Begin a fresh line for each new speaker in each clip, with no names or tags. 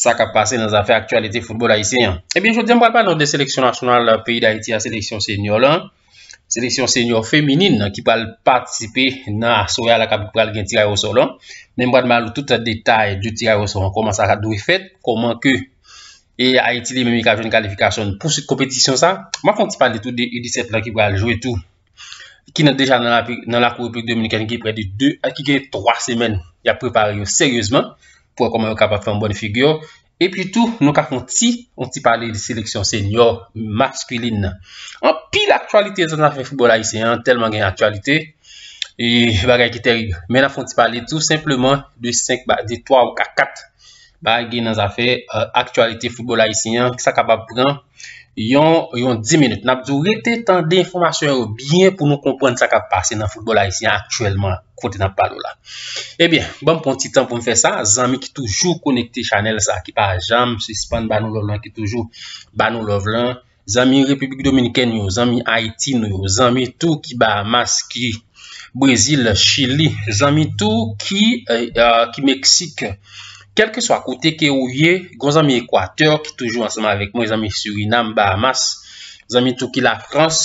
sa kap pase nan zafè aktyalite foutbòl ayisyen an. Ebyen, jodi an m pral pale de seleksyon nasyonal euh, peyi d'Ayiti a, seleksyon senyor lan, seleksyon senyor feminin nan ki pral patisipe nan asoya la kap pral gen tiray osò lan. Men m pral mal tout detay de tiray osò an, koman sa ka dwe fèt, koman ke e Ayiti li menm li ka jwenn kalifikasyon pou sit kompetisyon sa. M ap fon ti pale tou de U17 lan ki pral jwe tou. ki nan deja nan la kou replik dominikèn ki pre de 2 a ki gen 3 semèn y ap prepare yo seryezman pou wè kòman yo kapab fè yon bòn figi yo epi tou nou ka fon ti yon ti pale de seleksyon senyo maskilin nan an pi l aktualite zan zafè foubòl ayisyen an tèlman gen aktualite e bagay ki terib men la fon ti pale tou senpleman de 5 ba de 3 ou 4 kat ba gen nan zafè aktualite foubòl ayisyen an ki sa kapab pran yon yon 10 minit nap di w rete tande enfòmasyon yo byen pou nou konprann sa kap pase nan foutbòl ayisyen aktyèlman kote nap pale w la ebyen ban m pran yon ti tan pou m fè sa zanmi ki toujou konekte chanèl sa ki pa janm sispann ba nou lòv lan ki toujou ba nou lòv lan zanmi repiblik dominikèn yo zanmi ayiti nou yo zanmi tou ki bahamas ki Brezil, Chili, zanmi tou ki ki Meksik. Kèlkeswa kote ke ou ye, gon zanmi Ekwatè ki toujou ansanm avèk mwen, zanmi Surinam, Bahamas, zanmi tou ki Lafrans,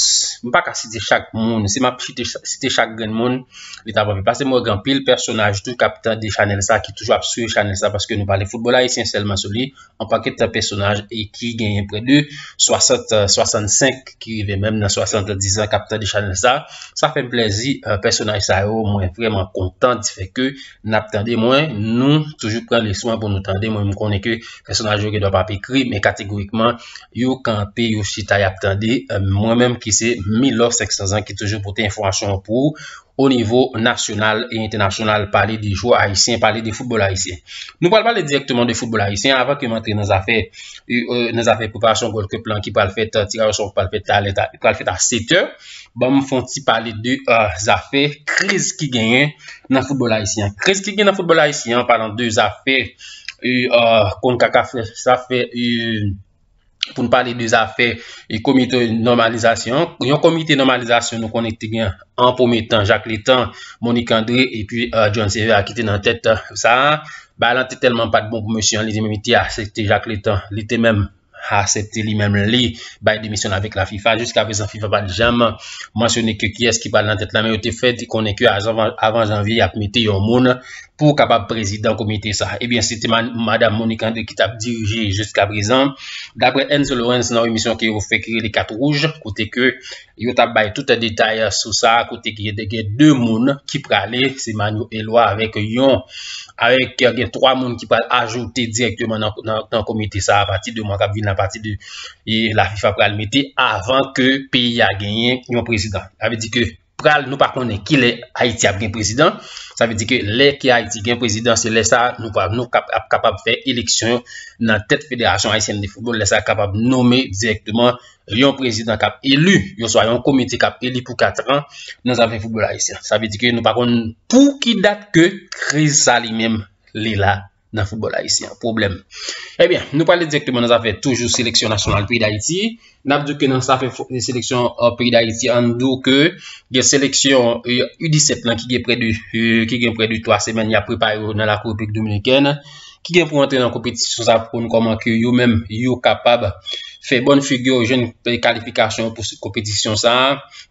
m pa ka site chak moun, si m ap chite site chak grenn moun, li t ap anpil, paske m wè gen anpil pèsonaj tou k ap tande chanèl sa, ki toujou ap swiv chanèl sa, paske nou pale foutbòl ayisyen sèlman sou li. Yon pakèt pèsonaj ki genyen prè de 60, 65 ki rive menm nan 70 an kap tande chanèl sa. Sa fèm plèzi pèsonaj sa yo mwen vrèman kontan di fè ke nap tande mwen nou toujou pran le swen pou nou tande mwen m konnen ke pèsonaj yo gen dwa pap ekri men kategorikman yo kanpe yo chita yap tande mwen menm ki se Milor 500 ans ki toujou pote enfòmasyon pou o nivo nasyonal e entènasyonal pale de jwè ayisyen, pale de foutbòl ayisyen. Nou pral pale direkteman de foutbòl ayisyen avan ke m antre nan zafè euh, nan zafè preparasyon Gold Cup lan ki pral fèt, euh, tiraj osò ki pral fèt talè, ki pral fèt a 7 è. Ban m fon ti pale de euh, zafè kriz ki genyen nan foutbòl ayisyen. Kriz ki genyen nan foutbòl ayisyen an palan de zafè kon kaka fè, zafè pou nou pale de zafè e komite normalizasyon. Yon komite normalizasyon nou konnen te gen an pwome tan Jacques Létan, Monique André e pi euh, John Sévère ki te nan tèt euh, sa a. Ba lan te tèlman pat bon pou mesye an li te menm te asepte Jacques Létan, li te menm asepte li menm li bay demisyon avèk la FIFA. Jiska prezan FIFA pat janm mansyone ke kiyès ki pral nan tèt la men yo te fè di konnen ke avan janvye y ap mete yon moun pou w kapab prezidan komite sa. Ebyen, se te madam Monique André ki tap dirije jiska prezan. Dapre Enzo Lorenz nan emisyon ke yo fè ki rele Kat Wouj, kote ke yo tap bay tout detay sou sa, kote ki de gen 2 moun ki prale, se Manyo Elwa avèk yon avèk gen 3 moun ki pral ajoute direktman nan komite sa apati de mwa kap vin apati de e la FIFA pral mete avan ke peyi a genyen yon prezidan. Sa vle di ke pral nou pa konnen ki lè Haïti ap gen président sa vle di ke lè ki Haïti gen président se lè sa nou pa nou kap ap kapab fè élection nan tèt fédération haïtienne de football lè sa kapab nommer directement yon président kap élu yon swa yon comité kap élu pou 4 ans nan zafè football haïtien sa vle di ke nou pa konnen pou ki dat ke kriz sa li menm li la. nan football ayisyen an, pwoblèm. Ebyen, eh nou pale direktman nan zafè toujou seleksyon nasyonal peyi d'Ayiti, nap di ke nan zafè seleksyon euh, peyi d'Ayiti an dou ke gen seleksyon U17 euh, lan ki gen prè de euh, ki gen prè de 3 semèn ya prepare yo nan la Republik Dominikèn ki gen pou antre nan kompetisyon sa pou nou koman ke yo menm yo kapab fè bon figure yo jwenn kalifikasyon pou kompetisyon sa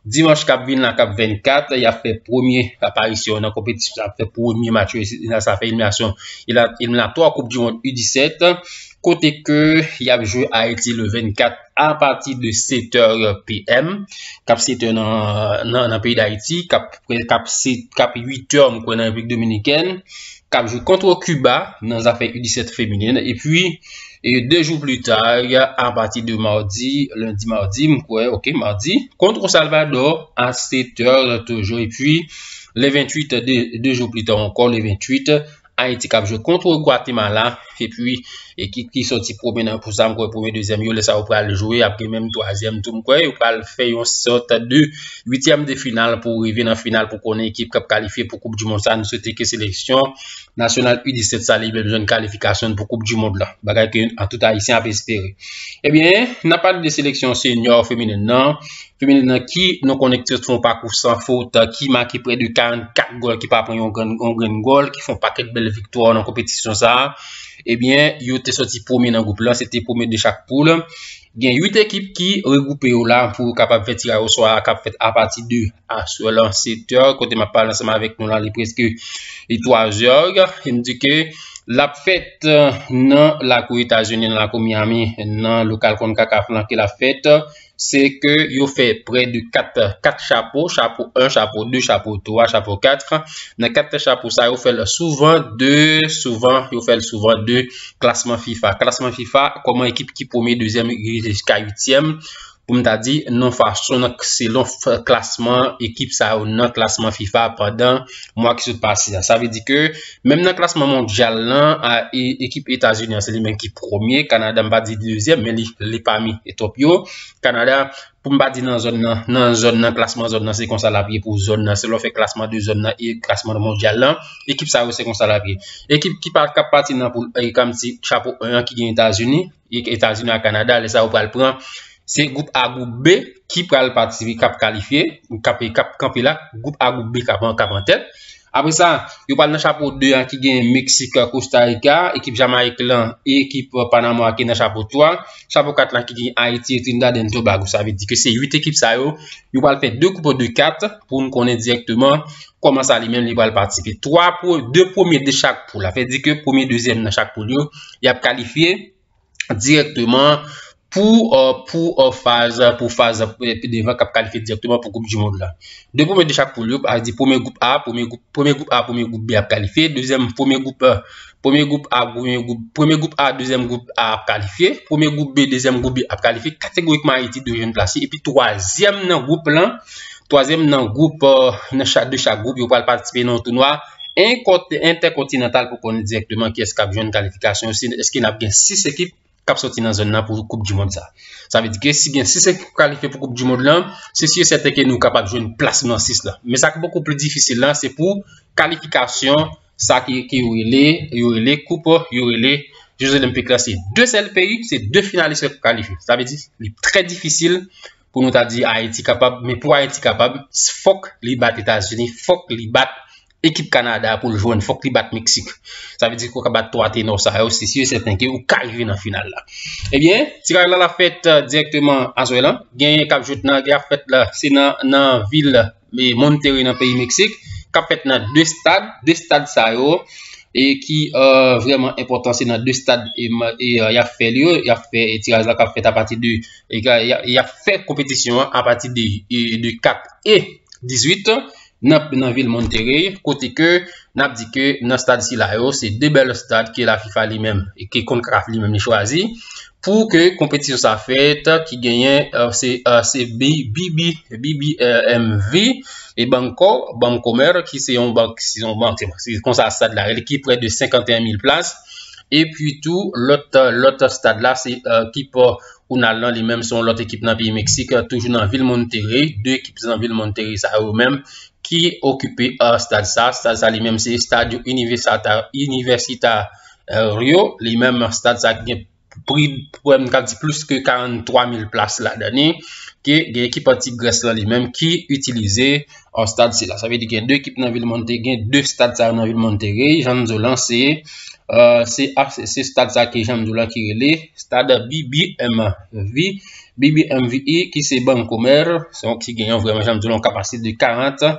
Dimanch kap vin la kap 24, y ap fè premye aparisyon nan konpetisyon sa, ap fè premye match yo, e nan sa fè eliminasyon eliminatwa koup di mond U17, kote ke y ap jwe Ayiti le 24 apati de 7 è PM, kap 7 è nan peyi d'Ayiti, kap 8 è mkwen nan Repiblik Dominikèn, kap jwe kontre Kiba nan zafè U17 feminen, epi. E 2 jou pli ta, a pati de mardi, lundi, mardi, m kwè, ok, mardi, kont ou Salvadò, a 7 tè toujou, e pi, le 28, 2 jou pli ta ankò, le 28, Ayiti kap jwe kont ou Guatemala, e pi, ekip ki soti pwome nan pou sa, m kwè pwome dezyèm yo, le sa ou pral jwe, ap gen menm twazyèm tou, m kwè, yo pral fè yon sòt de uityèm de final, pou rive nan final, pou konnen ekip kap kalifye pou koup di moun sa, nou swete ke seleksyon, Nasyonal U17 sa li menm jwenn kalifikasyon pou koup du mond la. Bagay ke an tout ayisyen ap espere. Ebyen, eh nan pale de seleksyon senyor feminen nan, feminen nan ki nou konnen ki te fon pakou san fot, ki make pre de 44 gol ki pa pran yon grenn gol, ki fon paket bel viktwa nan kompetisyon sa. Ebyen, eh yo te soti premye nan goup la, se te premye de chak poul. Gen 8 ekip ki regwoupe yo la pou yo kapab fè tiraj oswa a kap fèt apati de aswè lan 7 è kote map pale ansanm avèk nou la li preske 3 è e m di ke lap fèt nan lakou Etazini nan lakou Miami nan lokal Concacaf lan ke lap fèt se ke yo fè prè de 4 4 chapo, chapo 1, chapo 2, chapo 3, chapo 4 nan 4 chapo sa yo fèl souvan de souvan yo fèl souvan de Klasman fifa Klasman fifa Koman ekip ki premye dezyèm rive jiska uityèm pou m ta di non fason nan selon klasman ekip sa yo nan klasman fifa pandan mwa ki sot pase a sa vle di ke menm nan klasman mondyal nan a e ekip etazini an se li menm ki premye kanada m pa di dezyèm men li li pami etop yo kanada pou m pa di nan zòn nan, nan zòn nan, klasman zòn nan se konsa l ap ye pou zòn nan, si lè w fè klasman de zòn nan e klasman mondyal lan, ekip sa yo se konsa l ap ye. Ekip ki pa k ap pati nan poul 1 e kòm si chapo 1 an ki gen Etazini, Etazini ak Kanada, lè sa yo pral pran se gwoup A, gwoup B ki pral pati, ki ap kalifye, ki ap kanpe la, gwoup A, gwoup B k ap an tèt. Apre sa, yo pral nan chapo 2 a ki gen Meksik, Kosta Rika, ekip Jamayik lan e ekip Panama a ki nan chapo 3. Chapo 4 la ki gen Ayiti e Trinidad and Tobago. Sa vle di ke se 8 ekip sa yo, yo pral fè 2 group de 4 pou nou konnen direkteman koman sa li menm li pral patisipe. 3 pou 2 premye de chak poul. Sa vle di ke premye, dezyèm nan chak poul yo, y ap kalifye. dirèkteman pou pou faz pou faz pi devan k ap kalifye dirèkteman pou koup dimond la 2 premye de chak poul yo a di premye gwoup a premye gwoup premye gwoup a premye gwoup bi ap kalifye dezyèm premye gwoup premye gwoup a premye gwoup premye gwoup a dezyèm gwoup a ap kalifye premye gwoup bi dezyèm gwoup bi ap kalifye kategorikman ayiti dwe jwenn plas li epi twazyèm nan gwoup lan Twazyèm nan gwoup nan chak de chak gwoup yo pral patisipe nan yon tounwa entèkontinantal pou konnen direktman kiyès kap jwenn kalifikasyon si eske nap gen 6 ekip kap soti nan zòn nan pou koup di mond sa. Sa vle di ke si gen 6 ekip ki kalifye pou koup di mond lan, se si e sèten ke nou kapab jwenn plas nan 6 la. Men sa ki poko pli difisil lan se pou kalifikasyon sa ki ki yo rele yo rele koup yo rele Jeux Olympiques la se 2 sèl peyi, se 2 finalis ki kalifye. Sa vle di li trè difisil pou nou ta di Ayiti kapab, men pou Ayiti kapab, fòk li bat Etazini, fòk li bat ekip Kanada pou l jwenn, fòk li bat Meksik. Sa vle di kou ka bat 3 tenò sa yo, se si yo sèten ke ou ka rive nan final la. Ebyen, eh tiraj la la fèt direktman Azwè lan, gen kap jwet nan, gen ap fèt la, se nan vil e Monterrey nan peyi Meksik kap fèt nan 2 stad, 2 stad sa yo e ki vreman enpotan se nan 2 stad e yap fè li yo, yap fè tiraj la kap fèt a pati de yap fè kompetisyon an a pati de 4 e 18 an nan vil Monterrey kote ke nap di ke nan stad sila yo se 2 bèl stad ke la FIFA li menm e ke konn kraf li menm li chwazi Pou ke konpetisyon sa fèt ki genyen se BBMV e Banco Bancomer ki se yon bank se yon bank se konsa stad la rele ki prè de 51 mil plas e pi tou lòt lòt stad la se ki pa ou nan lan li menm se yon lòt ekip nan peyi Meksik toujou nan vil Monterrey 2 ekip se nan vil Monterrey sa yo menm ki okipe stad sa stad sa li menm se stad yon inivèsita Rio, li menm stad sa gen pri pou m ka di plis ke 43 mil plas la dani, ke gen ekip anti Grès la li menm ki itilize an stad sila. Sa ve di gen 2 ekip nan vil Monte, gen 2 stad sa nan vil Monte Rey, jan nou di w lan se se stad sa ki jan nou di w lan ki rele stad BBMV, BBMVI ki se banko mèr, se yon ki gen yon vreman jan nou di w lan kapasite de 40.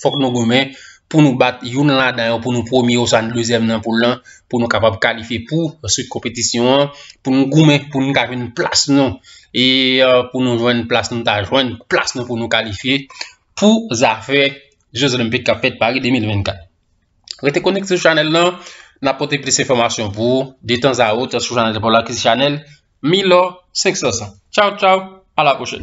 fòk nou goumen pou nou bat youn ladan yo pou nou premye oswa nou dezyèm nan poul lan pou nou kapab kalifye pou answit konpetisyon an pou nou goumen pou nou ka jwenn plas nou e pou nou jwenn plas nou ta jwenn plas nou pou nou kalifye pou zafè Je Zolenpik kap fèt Paris 2024. Rete konik sou chanel lan, nan pote plis informasyon pou, detan za ou, te sou chanel pou lakis chanel, mi lò, 500 san. Chow chow, ala pochèl.